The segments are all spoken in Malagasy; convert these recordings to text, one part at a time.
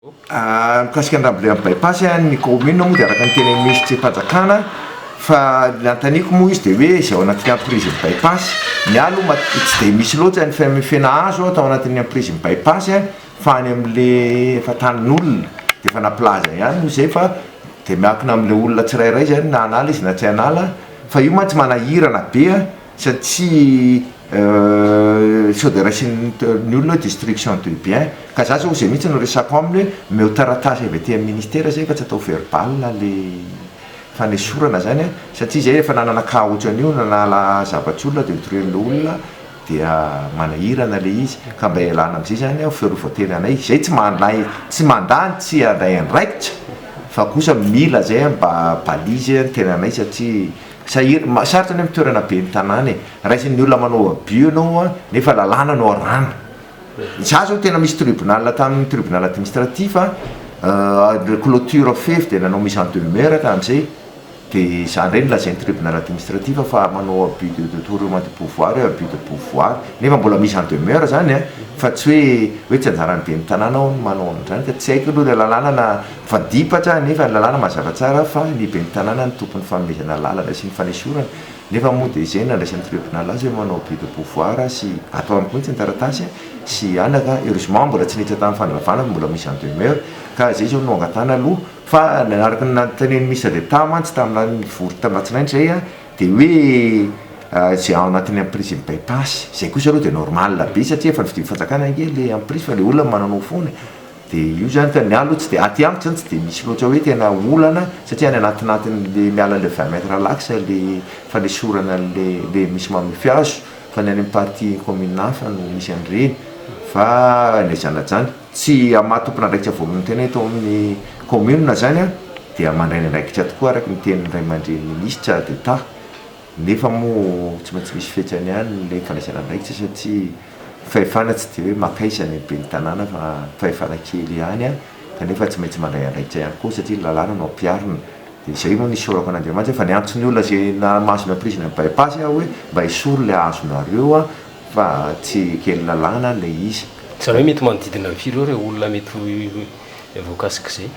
Mikasika ny rambole amin'ny bypass ny kaominina moa dia araka ny teny minisitrim-panjakana fa ny nanontaniako moa izy dia hoe izay ao anatin'ny amprizin'ny bypass, ny ahy aloha tsy dia misy loatra ny famefena hazo aho tao anatin'ny amprizin'ny bypass fa any amin'ilay efa tanin'olona dia efa nampilaza ihany moa izay fa dia miankina amin'ilay olona tsirairay izany na hanala izy na tsy hanala fa io mantsy manahirana be a! satria sao dia raisin'ny olona hoe destruction de bien, ka za zao zay mihitsy no resako aminy hoe omeo taratasy avy aty amin'ny ministera zay fa tsy atao verbal le fanesorana zany a, satria zay efa nanana cas otran'io nanala zavatr'i olona dia notorian'le olona dia manahirana le izy, ka mba ialana amzay zany aho fiarovan-tena anay, zay tsy manday tsy mandà ny tsy handray andraikitra fa kosa mila zay mba balise ny tenanay satria. Sahir, sarotra ny amin'ny toerana ben'ny tanàna e! Raisin'ny olona manao abus ianao a! Nefa lalàna no arahana. Izaho izao tena misy tribunal tamin'ny tribunal administratif a, le cloture fefy dia nanao mise en demeure tamin'izay, dia izany indray no lazain'ny tribunal administratif fa manao abus de detournement de pouvoir io, abus de pouvoir. Nefa mbola mise en demeure izany a! Fa tsy hoe hoe tsy anjaran'ny ben'ny tanàna ao ny manao an'izany ka tsy haiko aloha ilay lalàna na. Fa dipatra anefa ny lalàna mazava tsara fa ny ben'ny tanàna no tompon'ny fanomezana lalana sy ny fanesorana nefa moa dia izay no nandraisan'ny triobinaly azy hoe manao abus de pouvoir sy atao aminy mihitsy ny taratasy sy anaka heureusement mbola tsy niditra tamin'ny fandravana fa mbola mise en demeure ka izay izao no angatahana aloha fa araka ny nanontanian'ny ministre d'etat mantsy taminà nivory tamin'alatsinainy izay dia hoe izay ao anatin'ny emprise ny bypass izay kosa aloha dia normal be satria efa novidian'ny fanjakana ange ilay emprise fa ilay olona mananao foana Dia io izany fa ny ahy aloha tsy dia, aty amiko izany tsy dia misy loatra hoe tena olana satria any anatin'atin'ilay miala an'ilay vingt mètres lax ilay fanesorana an'ilay misy mamify azo fa ny any amin'ny partie commune hafa no misy an'ireny fa ilay zanajany tsy amin'ny maha tompon'andraikitra voalohany tena eto amin'ny commune izany dia mandray ny andraikitra tokoa araka ny tenin'ny Raiamandreny Ministra d'Etat. Nefa moa tsy maintsy misy fetrany ihany ilay fandraisana andraikitra satria fahefana tsy dia hoe makaiza ny ben'ny tanàna fa fahefana kely ihany kanefa tsy maintsy mandray andraikitra ihany koa satria ny lalàna no ampiharina. Dia izay no nisaorako an'Andriamanitra fa niantso ny olona izay nahamasina ny prise ny bypass aho hoe mba esory ilay azonareo fa tsy kely lalàna ilay izy. Izany hoe mety manodidina ny firy eo ireo olona mety ho voakasik'izay?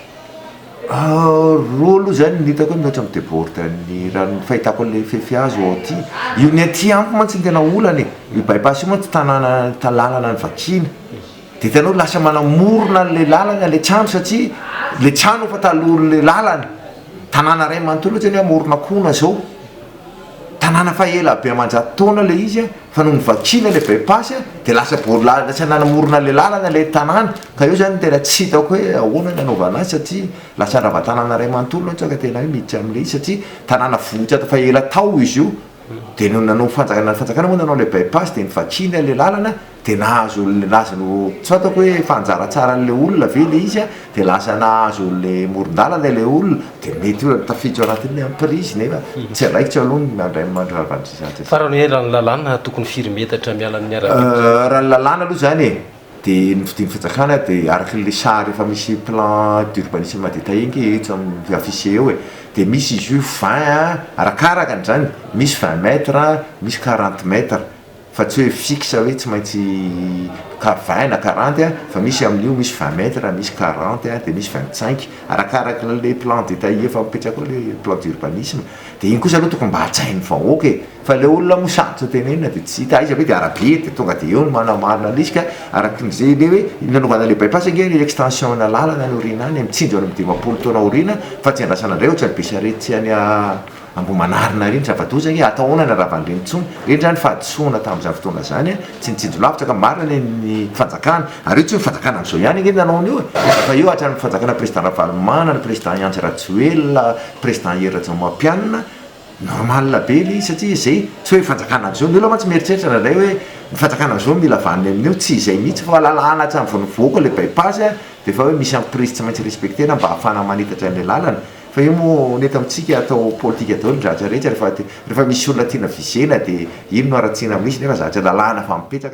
Roa aloha izany no hitako hoe mihoatra amin'ny debordn'ny raha ny fahitako an'ilay fefy azo ao aty. Io ny aty amiko mantsy no tena olana e, io bypass io mantsy tanàna ta- lalana ny vakiana, de hitanao lasa manamorona an'ilay lalana ilay trano satria ilay trano efa talohan'ilay lalana, tanàna iray manontolo ohatra ny hoe Amoronakona zao, Tanàna fa ela be aman-jato taona ilay izy a, fa nony vakiana ilay bypass a, dia lasa boarilala, tsy nanamorona ilay lalana ilay tanàna, ka eo izany no tena tsy hitako hoe ahoana ny hanaovana azy satria lasa handrava tanàna iray manontolo aho, sao ka tena hoe miditra amin'ilay izy satria tanàna vohitra tao fa ela tao izy io, dia nony nanao fanjakana, ny fanjakana moa nanao ilay bypass dia novakiana ilay lalana, dia nahazo le nazy no tsy fantako hoe efa anjara tsaran'ilay olona ve ilay izy dia lasa nahazo le morondalana ilay olona dia mety hoe tafiditra ao anatin'ny hoe emprise nefa tsy andraikitro aloha ny mandray mandravandrizantsy Fa raha ny hoe raha ny lalàna tokony firy metatra miala amin'ny arabe kosa zany? Raha ny lalàna aloha izany e, dia ny fidin'ny fanjakana dia araka ilay sary efa misy plan d'urbanisme détaillé ange etsy amin'ny afficher eo e, dia misy izy io vingt arakaraka an'izany, misy vingt mètres, misy quarante mètres. Fa tsy hoe fixe hoe tsy maintsy car vingt na quarante a, fa misy amin'io misy vingt mètres, misy quarante a, dia misy vingt cinq, arakaraka an'ilay plan détaillé efa mipetraka ao ilay plan d'urbanisme, dia iny kosa aloha tokony mba hajain'ny vahoaka e! fa ilay olona moa sarotra tenenina dia tsy hita aiza ve dia arabe dia tonga dia eo ny manamarina an'ilay izy ka araka ny izay ilay hoe nanaovana ilay bypass ange ilay extension-na lalana any aoriana any mitsinjo any amin'ny dimampolo taona aoriana fa tsy andrasana indray ohatran'ny be sarety tsy any Ambohimanarina ary ny zava-doza ange atao ahoana ny Ravandreny intsony reny zany fahadisoana tamin'izany fotoana izany a! tsy nitsinjo lavitra ka marina ny an'ny fanjakana ary io tsy ny fanjakana amin'izao ihany ange nanao an'io e! fa eo hatramin'ny fanjakana président Ravalomanana, président Iantsy Rajoelina, président Hery Rajaomapianina, normal be ilay izy satria zay, tsy hoe fanjakana amin'izao, ny olona mantsy mieritreritra indraindray hoe ny fanjakana amin'izao mila vaniny amin'io, tsy izay mihitsy fa lalàna hatrany vao nivoaka ilay by-pass a! dia efa hoe misy an'prise tsy maintsy respecter-na mba hahafahana manitatra an'ilay lalana, Fa io moa ny eto amintsika atao politika daholo ny zavatra rehetra rehefa misy olona tiana visena dia iny no haratsiana misy nefa zavatra lalàna efa mipetraka.